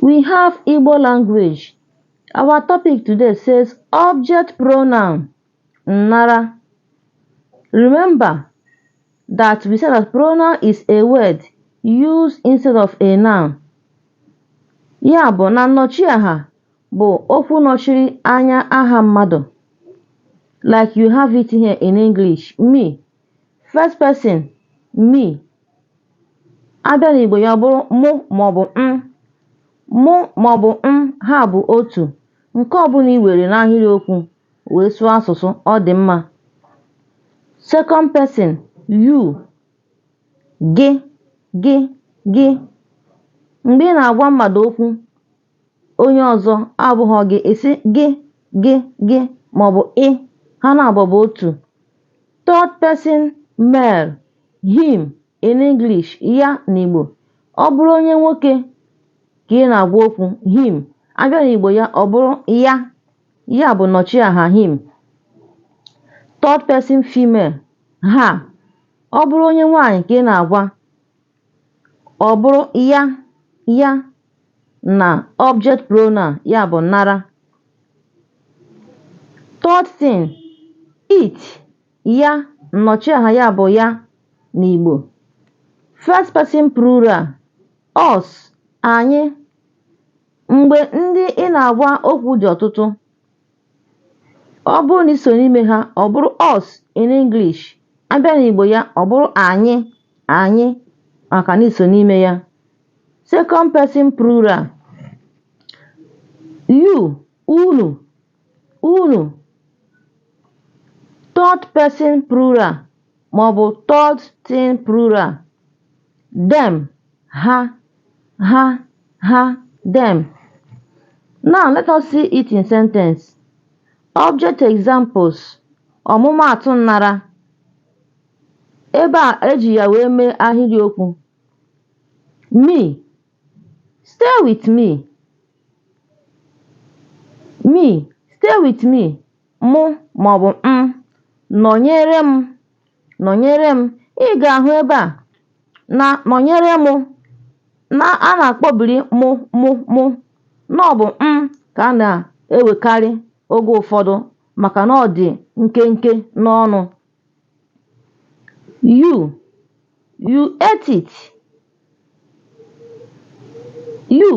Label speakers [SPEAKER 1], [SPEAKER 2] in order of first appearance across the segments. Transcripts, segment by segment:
[SPEAKER 1] We have Igbo language. Our topic today says object pronoun nnara. Remember that we said that pronoun is a word used instead of a noun. Ya bụ na nnọchiaha bụ okwu nọchiri anya aha mmadụ. Like you have it here in English, me. first person me a bịa n'Igbo ya ọ bụrụ mụ maọbụ m mụ maọbụ m ha bụ otu nke ọbụla i were n'ahịrịokwu wee sụọ asụsụ ọ dị mma second person you gị gị gị mgbe ị na-agwa mmadụ okwu onye ọzọ abụghị gị ị sị gị gị gị maọbụ ị ha naabọ bụ otu third person male him in English ya n'Igbo ọ bụrụ onye nwoke ka ị na-agwa okwu him a bịa n'Igbo ya ọ bụrụ ya ya bụ nnọchiaha him third person female her ọ bụrụ onye nwaanyị ka ị na-agwa ọ bụrụ ya ya na object pronoun ya bụ nnara third thing it ya nnọchiaha ya bụ ya n'Igbo first person plural us anyị mgbe ndị ị na-agwa okwu dị ọtụtụ ọ bụrụ na i so n'ime ha ọ bụrụ us in English a bịa n'Igbo ya ọ bụrụ anyị anyị maka na i so n'ime ya second person plural you unu unu third person plural maọbụ third thing plural them ha ha, ha, them. Now let us see it in sentence. Object examples ọmụmaatụ nnara ebe a eji ya wee mee ahịrịokwu me stay with me me stay with me mụ maọbụ m nọnyere m nọnyere m ị ga-ahụ ebe a na nọnyere mụ na a na-akpọbiri mụ mụ mụ na ọ bụ m ka a na-ewekarị oge ụfọdụ maka na ọ dị nkenke n'ọnụ you you ate it you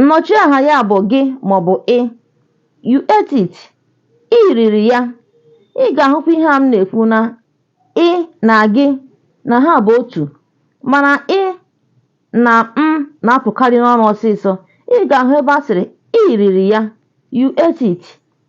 [SPEAKER 1] Nnọchiaha ya bụ gị maọbụ ị. You ate it. Ị riri ya. Ị ga-ahụkwa ihe a m na-ekwu na ị na gị na ha bụ otu mana ị na m na-apụkarị n'ọnụ ọsịsọ. Ị ga-ahụ ebe a sịrị ị riri ya. You ate it.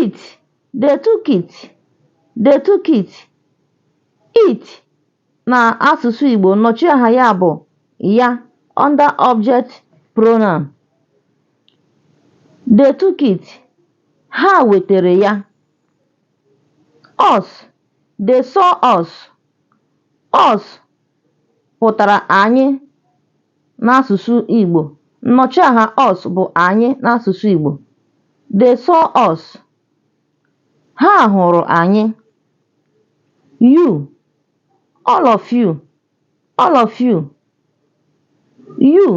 [SPEAKER 1] it they took it they took it it na asụsụ Igbo nnọchiaha ya bụ ya under object pronoun they took it ha wetere ya us they saw us us pụtara anyị n'asụsụ Igbo. Nnọchiaha us bụ anyị n'asụsụ Igbo. They saw us. Ha hụrụ anyị. You, all of you, all of you. You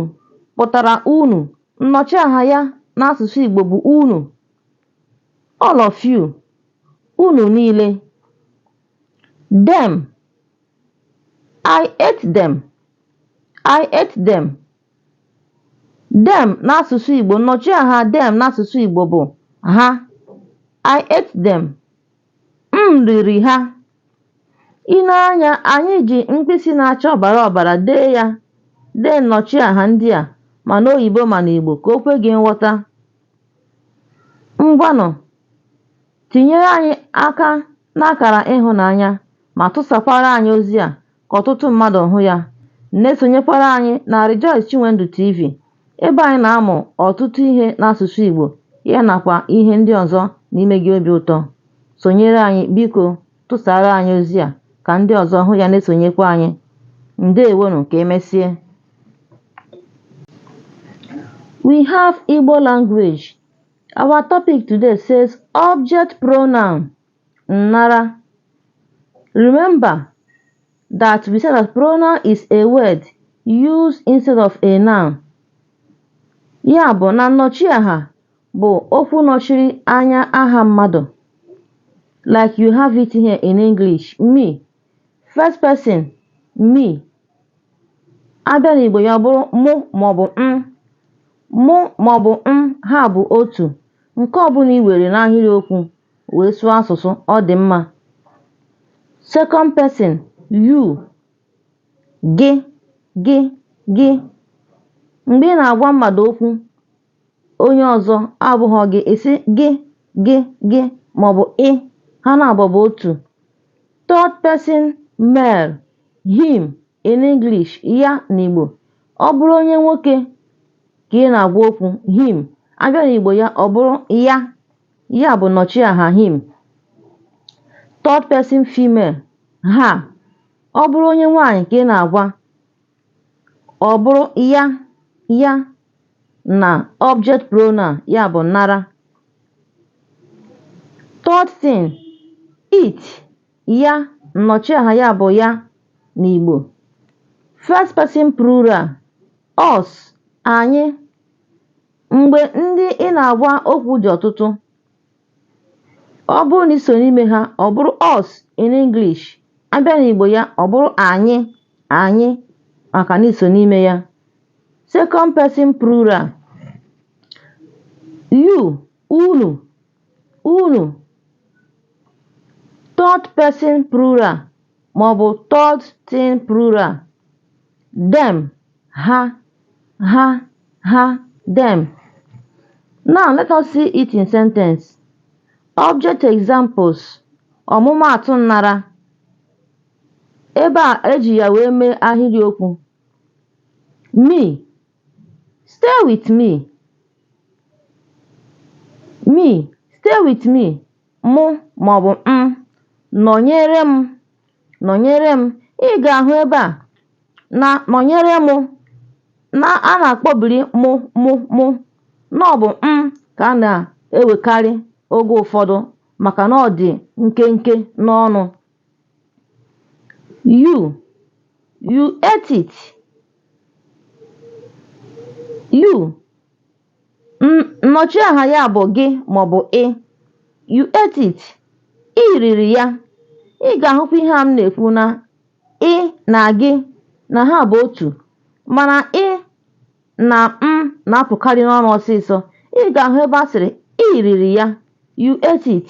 [SPEAKER 1] pụtara unu. Nnọchiaha ya n'asụsụ Igbo bụ unu. All of you, unu niile. Them, I ate them. I ate them. Them n'asụsụ Igbo nnọchiaha them n'asụsụ Igbo bụ ha. I ate them. M riri ha. I nee anya, anyị ji mkpịsị na-acha ọbara ọbara dee ya dee nnọchiaha ndị a ma n'oyibo ma n'Igbo ka o kwe gị nghọta. Ngwanụ, tinyere anyị aka n'akara ịhụnanya ma tụsakwara anyị ozi a ka ọtụtụ mmadụ hụ ya. Na-esonyekwara anyị na Rejoice Chinwendu TV ebe anyị na-amụ ọtụtụ ihe n'asụsụ Igbo ya nakwa ihe ndị ọzọ na-eme gị obi ụtọ. Sonyere anyị biko tụsaara anyị ozi a ka ndị ọzọ hụ ya na-esonyekwa anyị. Ndewonụ ka emesie. We have Igbo language. Our topic today says object pronoun. nnara. Remember that we said that pronoun is a word used instead of a noun. Ya bụ na nnọchiaha bụ okwu nọchiri anya aha mmadụ. Like you have it here in English, me. First person, me. A bịa n'Igbo ya bụrụ mụ maọbụ m. Mụ maọbụ m ha bụ otu. Nke ọbụla i were n'ahịrịokwu wee sụọ asụsụ ọ dị mma second person you gị gị gị mgbe ị na-agwa mmadụ okwu onye ọzọ abụghị gị ị sị gị gị gị maọbụ ị ha naabọ bụ otu third person male him in English ya n'Igbo ọ bụrụ onye nwoke ka ị na-agwa okwu him a bịa n'Igbo ya ọ bụrụ ya Ya bụ nnọchiaha him. Third person female her. Ọ bụrụ onye nwaanyị ka ị na-agwa ọ bụrụ ya ya na object pronoun ya bụ nnara. Third thing, it ya nnọchiaha ya bụ ya n'Igbo. First person plural us anyị Mgbe ndị ị na-agwa okwu dị ọtụtụ, ọ bụrụ na i so n'ime ha, ọ bụrụ us in English, a bịa n'Igbo ya, ọ bụrụ anyị, anyị, maka na i so n'ime ya. Second person plural. You, unu, Unu, third person plural maọbụ third thing plural, them, ha, ha, ha, them. Now let us see it in sentence. Object examples, ọmụmaatụ nnara. Ebe e ji ya wee mee ahịrịokwu. Me, Stay with me, me, stay with me, mụ maọbụ m, nọnyere m, nọnyere m, ị ga-ahụ ebe a na nọnyere mụ na a na-akpọbiri mụ mụ mụ na ọ bụ m ka a na-ewekarị oge ụfọdụ maka na ọ dị nkenke n'ọnụ. You, you ate it. You, nnọchi aha ya bụ gị maọbụ ị. You ate it. I riri ya. Ị ga-ahụkwa ihe a m na-ekwu na ị na gị na ha bụ otu mana ị na m na-apụkarị n'ọnụ ọsịsọ. Ị ga-ahụ ebe a sịrị i riri ya. You ate it.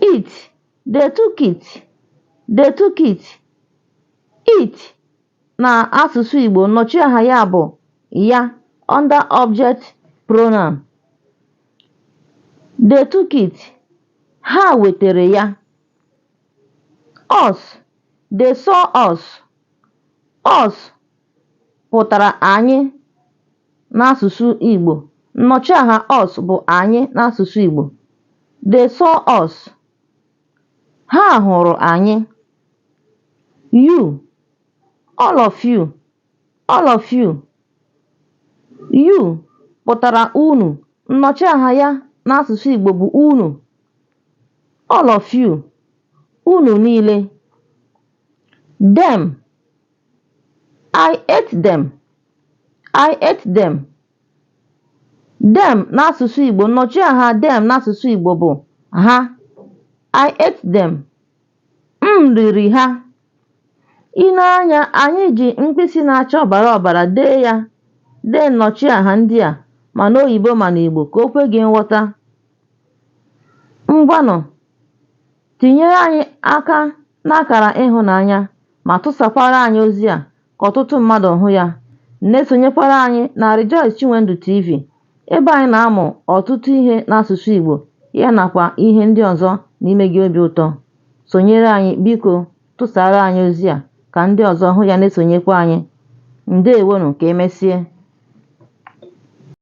[SPEAKER 1] it they took it they took it it na asụsụ Igbo nnọchi aha ya bụ ya under object pronoun they took it ha wetara ya us they saw us us pụtara anyị n'asụsụ Igbo. Nnọchiaha us bụ anyị n'asụsụ Igbo. They saw us. Ha hụrụ anyị. You, all of you, all of you. You pụtara unu. Nnọchiaha ya n'asụsụ Igbo bụ unu. All of you, unu niile. Them I ate them. I ate them. Them n'asụsụ Igbo nnọchiaha them n'asụsụ Igbo bụ ha. I ate them. M riri ha. I nee anya, anyị ji mkpịsị na-acha ọbara ọbara dee ya dee nnọchiaha ndị a ma n'oyibo ma n'Igbo ka o kwe gị nghọta. Ngwanụ Tinyere anyị aka n'akara ịhụnanya ma tụsakwara anyị ozi a ka ọtụtụ mmadụ hụ ya. Na-esonyekwara anyị na Rejoice Chinwendu TV ebe anyị na-amụ ọtụtụ ihe n'asụsụ Igbo ya nakwa ihe ndị ọzọ na-eme gị obi ụtọ. Sonyere anyị biko tụsara anyị ozi a ka ndị ọzọ hụ ya na-esonyekwa anyị. Ndewonụ ka emesie.